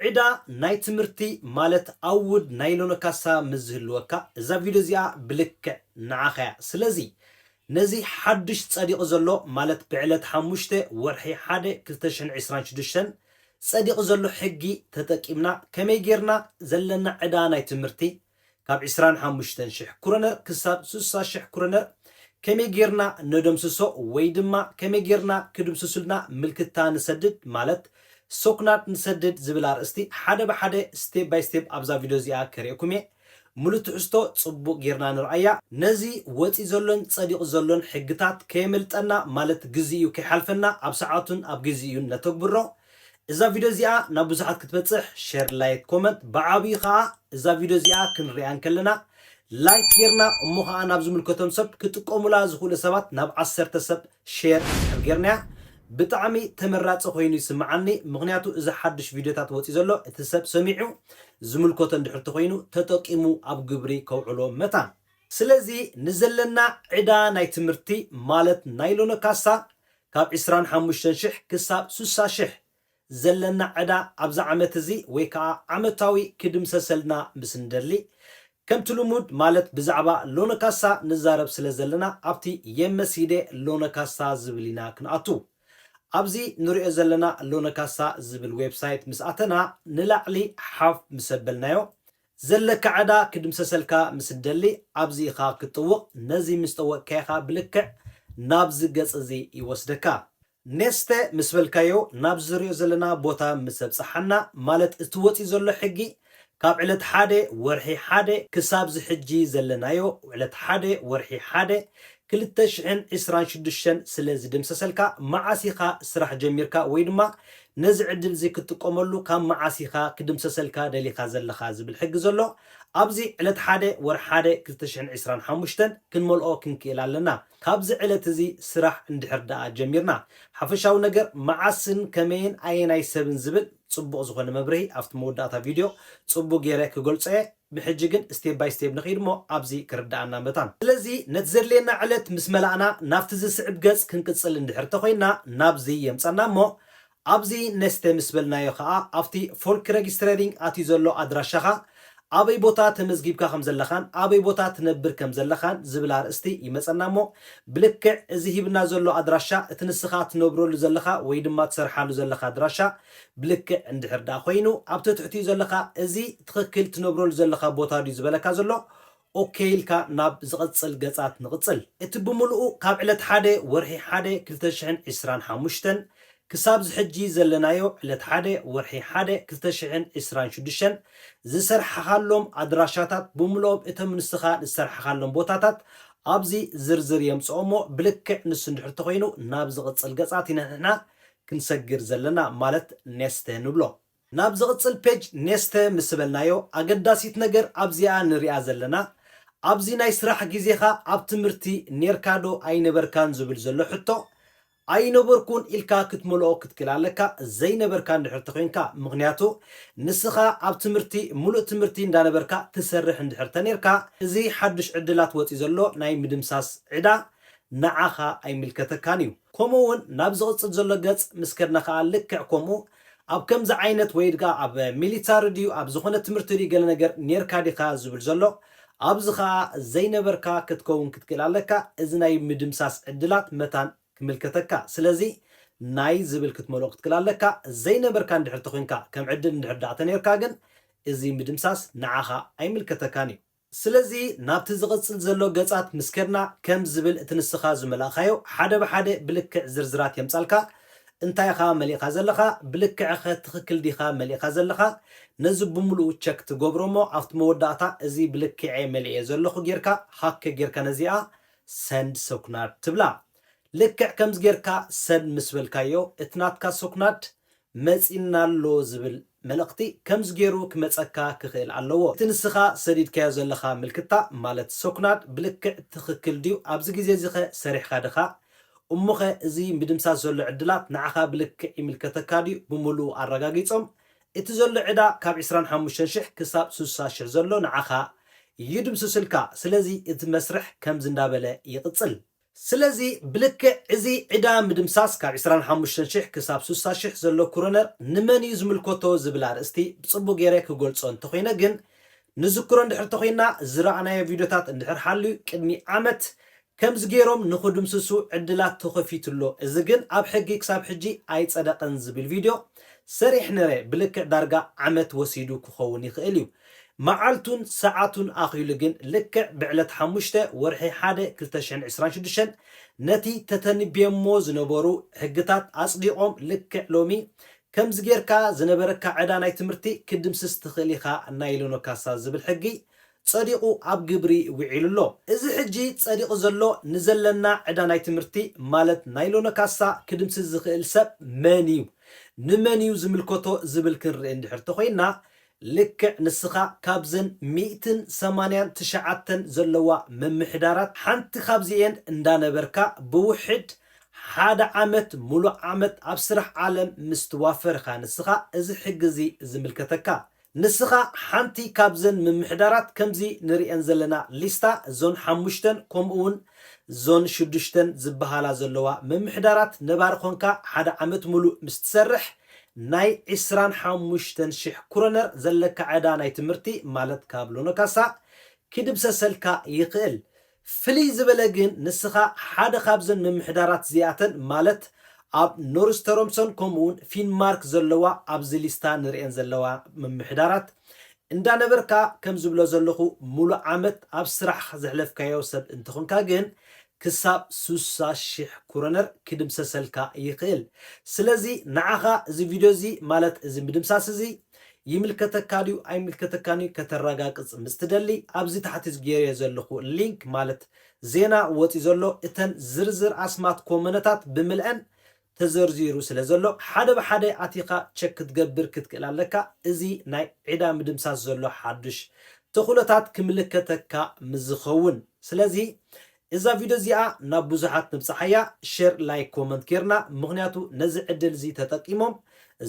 ዕዳ ናይ ትምህርቲ ማለት ኣውድ ናይ ሎኖ ካሳ ምስ ዝህልወካ እዛ ቪድዮ እዚኣ ብልክዕ ንዓኻ እያ ስለዚ ነዚ ሓዱሽ ጸዲቑ ዘሎ ማለት ብዕለት ሓሙሽተ ወርሒ ሓደ ክልተ ሽሕን ዕስራን ሽዱሽተን ጸዲቑ ዘሎ ሕጊ ተጠቂምና ከመይ ጌርና ዘለና ዕዳ ናይ ትምህርቲ ካብ ዕስራን ሓሙሽተን ሽሕ ክሮነር ክሳብ ስሳ ሽሕ ክሮነር ከመይ ጌርና ነደምስሶ ወይ ድማ ከመይ ጌርና ክድምስሱልና ምልክታ ንሰድድ ማለት ሶክናድ ንሰድድ ዝብል ኣርእስቲ ሓደ ብሓደ ስቴፕ ባይ ስቴፕ ኣብዛ ቪድዮ እዚኣ ከርእየኩም እየ ሙሉእ ትሕዝቶ ጽቡቕ ጌርና ንርኣያ። ነዚ ወጺኡ ዘሎን ጸዲቑ ዘሎን ሕግታት ከየምልጠና ማለት ግዜኡ ከይሓልፈና ኣብ ሰዓቱን ኣብ ግዜኡን ነተግብሮ። እዛ ቪድዮ እዚኣ ናብ ብዙሓት ክትበጽሕ ሸር ላይክ ኮመንት ብዓብዩ ከኣ እዛ ቪድዮ እዚኣ ክንርእያ እንከለና ላይክ ጌርና እሞ ከኣ ናብ ዝምልከቶም ሰብ ክጥቀሙላ ዝኽእሉ ሰባት ናብ ዓሰርተ ሰብ ሸር እንድሕር ጌርናያ ብጣዕሚ ተመራጺ ኮይኑ ይስምዓኒ ምኽንያቱ እዚ ሓዱሽ ቪድዮታት ወጽዩ ዘሎ እቲ ሰብ ሰሚዑ ዝምልከቶ እንድሕር ተኾይኑ ተጠቂሙ ኣብ ግብሪ ከውዕሎ መታን ስለዚ ንዘለና ዕዳ ናይ ትምህርቲ ማለት ናይ ሎኖካሳ ካብ ዕስራን ሓሙሽተን ሽሕ ክሳብ ስሳ ሽሕ ዘለና ዕዳ ኣብዚ ዓመት እዚ ወይ ከኣ ዓመታዊ ክድምሰሰልና ምስ ንደሊ ከምቲ ልሙድ ማለት ብዛዕባ ሎነ ካሳ ንዛረብ ስለ ዘለና ኣብቲ የመሲዴ ሎነ ካሳ ዝብል ኢና ክንኣቱ። ኣብዚ ንርእዮ ዘለና ሎነ ካሳ ዝብል ዌብሳይት ምስ ኣተና ንላዕሊ ሓፍ ምስ ኣበልናዮ ዘለካ ዕዳ ክድምሰሰልካ ምስ እትደሊ ኣብዚ ኢኻ ክትጥውቕ፣ ነዚ ምስ ጠወቕካ ኢኻ ብልክዕ ናብዚ ገጽ እዚ ይወስደካ። ኔስተ ምስ በልካዮ ናብዚ ዝርዮ ዘለና ቦታ ምስ ኣብጽሓና፣ ማለት እቲ ወጺኡ ዘሎ ሕጊ ካብ ዕለት ሓደ ወርሒ ሓደ ክሳብ እዚ ሕጂ ዘለናዮ ዕለት ሓደ ወርሒ ሓደ ክልተ ሽሕን ዕስራን ሽዱሽተን ስለ ዝድምሰሰልካ መዓስ ኢኻ ስራሕ ጀሚርካ ወይ ድማ ነዚ ዕድል'ዚ ክትጥቀመሉ ካብ መዓስ ኢኻ ክድምሰሰልካ ደሊኻ ዘለኻ ዝብል ሕጊ ዘሎ ኣብዚ ዕለት ሓደ ወርሒ ሓደ ክልተ ሽሕን ዕስራን ሓሙሽተን ክንመልኦ ክንክእል ኣለና ካብዚ ዕለት እዚ ስራሕ እንድሕር ደኣ ጀሚርና ሓፈሻዊ ነገር መዓስን ከመይን ኣየናይ ሰብን ዝብል ጽቡቕ ዝኾነ መብርሂ ኣብቲ መወዳእታ ቪድዮ ጽቡቕ ጌረ ክገልጾ'የ ብሕጂ ግን ስቴብ ባይ ስቴብ ንኺድ እሞ ኣብዚ ክርደኣና መታን። ስለዚ ነቲ ዘድልየና ዕለት ምስ መላእና ናብቲ ዝስዕብ ገጽ ክንቅጽል እንድሕር ተኾይንና ናብዚ የምጸና እሞ ኣብዚ Neste ምስ በልናዮ ከኣ ኣብቲ Folkregistrering ኣትዩ ዘሎ ኣድራሻኻ ኣበይ ቦታ ተመዝጊብካ ከም ዘለኻን ኣበይ ቦታ ትነብር ከም ዘለኻን ዝብል ኣርእስቲ ይመጸና እሞ ብልክዕ እዚ ሂብና ዘሎ ኣድራሻ እቲ ንስኻ ትነብረሉ ዘለኻ ወይ ድማ ትሰርሓሉ ዘለኻ ኣድራሻ ብልክዕ እንድሕር ድኣ ኮይኑ ኣብ ተትሕቲኡ ዘለካ እዚ ትክክል ትነብረሉ ዘለካ ቦታ ድዩ ዝበለካ ዘሎ ኦኬ ኢልካ ናብ ዝቅጽል ገጻት ንቅጽል። እቲ ብምሉኡ ካብ ዕለት ሓደ ወርሒ ሓደ ክልተ ሽሕን ዕስራን ሓሙሽተን ክሳብ እዚ ሕጂ ዘለናዮ ዕለት ሓደ ወርሒ ሓደ ክልተ ሽሕን ዕስራን ሽዱሽተን ዝሰርሓካሎም ኣድራሻታት ብምሉኦም እቶም ንስካ ዝሰርሓካሎም ቦታታት ኣብዚ ዝርዝር የምጽኦሞ ብልክዕ ንሱ እንድሕር ተኮይኑ ናብ ዝቅጽል ገጻት ኢና ንሕና ክንሰግር ዘለና ማለት ኔስተ ንብሎ። ናብ ዝቕጽል ፔጅ ኔስተ ምስ በልናዮ ኣገዳሲት ነገር ኣብዚኣ ንሪኣ ዘለና ኣብዚ ናይ ስራሕ ግዜኻ ኣብ ትምህርቲ ኔርካ ዶ ኣይነበርካን ዝብል ዘሎ ሕቶ ኣይነበርኩን ኢልካ ክትመልኦ ክትክል ኣለካ ዘይነበርካ እንድሕር ተኮይንካ ምኽንያቱ ንስኻ ኣብ ትምህርቲ ምሉእ ትምህርቲ እንዳነበርካ ትሰርሕ እንድሕር ተኔርካ እዚ ሓዱሽ ዕድላት ወጺኡ ዘሎ ናይ ምድምሳስ ዕዳ ንዓኻ ኣይምልከተካን እዩ። ከምኡ እውን ናብ ዝቕጽል ዘሎ ገጽ ምስ ከድና ከኣ ልክዕ ከምኡ ኣብ ከምዚ ዓይነት ወይ ድኣ ኣብ ሚሊታሪ ድዩ ኣብ ዝኾነ ትምህርቲ ድዩ ገለ ነገር ኔርካ ዲኻ ዝብል ዘሎ ኣብዚ ከኣ ዘይነበርካ ክትከውን ክትክእል ኣለካ እዚ ናይ ምድምሳስ ዕድላት መታን ክምልከተካ ስለዚ ናይ ዝብል ክትመልኦ ክትክእል ኣለካ ዘይነበርካ እንድሕር ተኮንካ ከም ዕድል እንድሕር ድኣ ተኔርካ ግን እዚ ምድምሳስ ንዓኻ ኣይምልከተካን እዩ። ስለዚ ናብቲ ዝቕጽል ዘሎ ገጻት ምስ ከድና ከም ዝብል እቲ ንስኻ ዝመላእካዮ ሓደ ብሓደ ብልክዕ ዝርዝራት የምጻልካ፣ እንታይ ኢኻ መሊእኻ ዘለኻ፣ ብልክዕ'ኸ ትኽክል ዲኻ መሊእኻ ዘለኻ፣ ነዚ ብምሉኡ ቸክ ትገብሮ'ሞ ኣብቲ መወዳእታ እዚ ብልክዕ'የ መሊኤ ዘለኹ ጌርካ ሃከ ጌርካ ነዚኣ ሰንድ ሰኩናድ ትብላ። ልክዕ ከምዚ ጌርካ ሰንድ ምስ በልካዮ እቲ ናትካ ሰኩናድ መጺና ኣሎ ዝብል መልእኽቲ ከምዚ ገይሩ ክመጸካ ክኽእል ኣለዎ። እቲ ንስኻ ሰዲድካዮ ዘለኻ ምልክታ ማለት ሰኩናድ ብልክዕ ትኽክል ድዩ? ኣብዚ ግዜ እዚኸ ሰሪሕካ ድኻ? እሞኸ እዚ ምድምሳስ ዘሎ ዕድላት ንዓኻ ብልክዕ ይምልከተካ ድዩ? ብምሉኡ ኣረጋጊጾም። እቲ ዘሎ ዕዳ ካብ ዕስራን ሓሙሽተን ሽሕ ክሳብ ስሳ ሽሕ ዘሎ ንዓኻ ይድምስስልካ። ስለዚ እቲ መስርሕ ከምዚ እንዳበለ ይቕጽል። ስለዚ ብልክዕ እዚ ዕዳ ምድምሳስ ካብ ዕስራን ሓሙሽተን ሽሕ ክሳብ ስሳ ሽሕ ዘሎ ክሮነር ንመን እዩ ዝምልከቶ ዝብል ኣርእስቲ ብጽቡቕ ገይረ ክገልጾ እንተኾይነ ግን ንዝክሮ እንድሕር ተኾይንና ዝረኣናዮ ቪድዮታት እንድሕር ሓልዩ ቅድሚ ዓመት ከምዚ ገይሮም ንኽድምስሱ ዕድላት ተኸፊቱ ኣሎ እዚ ግን ኣብ ሕጊ ክሳብ ሕጂ ኣይጸደቐን ዝብል ቪድዮ ሰሪሕ ነረ ብልክዕ ዳርጋ ዓመት ወሲዱ ክኸውን ይኽእል እዩ መዓልቱን ሰዓቱን ኣኺሉ ግን ልክዕ ብዕለት ሓሙሽተ ወርሒ ሓደ ክልተ ሽሕን ዕስራን ሽዱሽተን ነቲ ተተንብዮሞ ዝነበሩ ሕግታት ኣጽዲቖም ልክዕ ሎሚ ከምዚ ጌርካ ዝነበረካ ዕዳ ናይ ትምህርቲ ክትድምስስ ትኽእል ኢኻ ናይ ሎኖ ካሳ ዝብል ሕጊ ጸዲቑ ኣብ ግብሪ ዊዒሉ ኣሎ። እዚ ሕጂ ጸዲቑ ዘሎ ንዘለና ዕዳ ናይ ትምህርቲ ማለት ናይ ሎኖ ካሳ ክድምስስ ዝኽእል ሰብ መን እዩ? ንመን እዩ ዝምልከቶ ዝብል ክንርኢ እንድሕር ተኾይንና ልክዕ ንስኻ ካብዘን ሚእትን ሰማንያን ትሽዓተን ዘለዋ ምምሕዳራት ሓንቲ ካብዚኤን እንዳነበርካ ብውሕድ ሓደ ዓመት ምሉእ ዓመት ኣብ ስራሕ ዓለም ምስ ትዋፈር ኢኻ ንስኻ እዚ ሕጊ እዚ ዝምልከተካ። ንስኻ ሓንቲ ካብዘን ምምሕዳራት ከምዚ ንርእየን ዘለና ሊስታ እዞን ሓሙሽተን ኮምኡውን ዞን ሽዱሽተን ዝብሃላ ዘለዋ ምምሕዳራት ነባሪ ኮንካ ሓደ ዓመት ምሉእ ምስ ትሰርሕ ናይ ዕስራን ሓሙሽተን ሽሕ ኩረነር ዘለካ ዕዳ ናይ ትምህርቲ ማለት ካብ ሎኖካሳ ክድብሰሰልካ ይክእል ፍልይ ዝበለ ግን ንስካ ሓደ ካብዘን ምምሕዳራት እዚኣተን ማለት ኣብ ኖርስተሮምሶን ከምኡውን ፊንማርክ ዘለዋ ኣብዚ ሊስታ ንርእየን ዘለዋ ምምሕዳራት እንዳ ነበርካ ከም ዝብሎ ዘለኹ ሙሉእ ዓመት ኣብ ስራሕ ዘሕለፍካዮ ሰብ እንተኾንካ ግን ክሳብ ስሳ ሽሕ ኩሮነር ክድምሰሰልካ ይኽእል ስለዚ ንዓኻ እዚ ቪድዮ እዚ ማለት እዚ ምድምሳስ እዚ ይምልከተካ ድዩ ኣይምልከተካን እዩ ከተራጋግጽ ምስ ትደሊ ኣብዚ ታሕቲ ዝጌርዮ ዘለኹ ሊንክ ማለት ዜና ወጺኡ ዘሎ እተን ዝርዝር ኣስማት ኮመነታት ብምልኣን ተዘርዚሩ ስለ ዘሎ ሓደ ብሓደ ኣቲኻ ቸክ ክትገብር ክትክእል ኣለካ እዚ ናይ ዕዳ ምድምሳስ ዘሎ ሓዱሽ ተኽእሎታት ክምልከተካ ምስ ዝኸውን ስለዚ እዛ ቪድዮ እዚኣ ናብ ብዙሓት ንብጽሓያ ሸር ላይክ ኮመንት ጌርና ምኽንያቱ ነዚ ዕድል እዚ ተጠቂሞም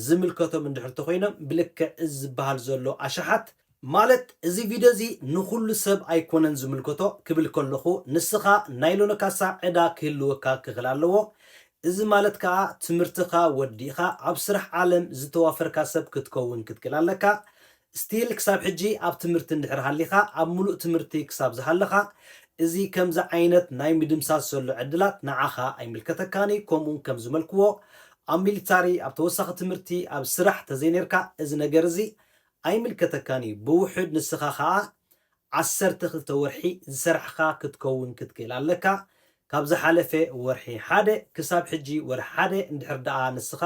ዝምልከቶም እንድሕር ተኾይኖም ብልክዕ እዚ ዝበሃል ዘሎ ኣሽሓት ማለት እዚ ቪድዮ እዚ ንኹሉ ሰብ ኣይኮነን ዝምልከቶ ክብል ከለኹ ንስኻ ናይ ሎኖካሳ ዕዳ ክህልወካ ክኽል ኣለዎ እዚ ማለት ከኣ ትምህርትኻ ወዲእኻ ኣብ ስራሕ ዓለም ዝተዋፈርካ ሰብ ክትከውን ክትክል ኣለካ still ክሳብ ሕጂ ኣብ ትምህርቲ እንድሕር ሃሊኻ ኣብ ምሉእ ትምህርቲ ክሳብ ዝሃለኻ እዚ ከምዚ ዓይነት ናይ ምድምሳስ ዘሎ ዕድላት ንዓኻ ኣይምልከተካን እዩ ከምኡ ከም ዝመልክዎ ኣብ ሚሊታሪ ኣብ ተወሳኺ ትምህርቲ ኣብ ስራሕ ተዘይኔርካ እዚ ነገር እዚ ኣይምልከተካን እዩ ብውሑድ ንስኻ ከኣ ዓሰርተ ክልተ ወርሒ ዝሰራሕኻ ክትከውን ክትክእል ኣለካ ካብ ዝሓለፈ ወርሒ ሓደ ክሳብ ሕጂ ወርሒ ሓደ እንድሕር ደኣ ንስኻ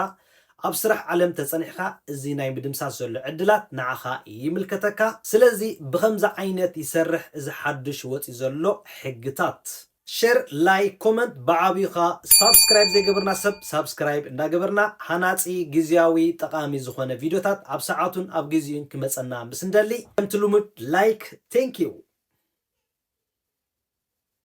ኣብ ስራሕ ዓለም ተጸኒሕካ እዚ ናይ ምድምሳስ ዘሎ ዕድላት ንዓኻ ይምልከተካ ስለዚ ብኸምዚ ዓይነት ይሰርሕ እዚ ሓዱሽ ወጽዩ ዘሎ ሕግታት። ሸር ላይክ ኮመንት ብዓብዩ ከኣ ሳብስክራይብ ዘይገበርና ሰብ ሳብስክራይብ እንዳገበርና ሃናጺ ግዝያዊ ጠቃሚ ዝኮነ ቪድዮታት ኣብ ሰዓቱን ኣብ ግዚኡን ክመጸና ምስ እንደሊ ከምቲ ልሙድ ላይክ Thank you።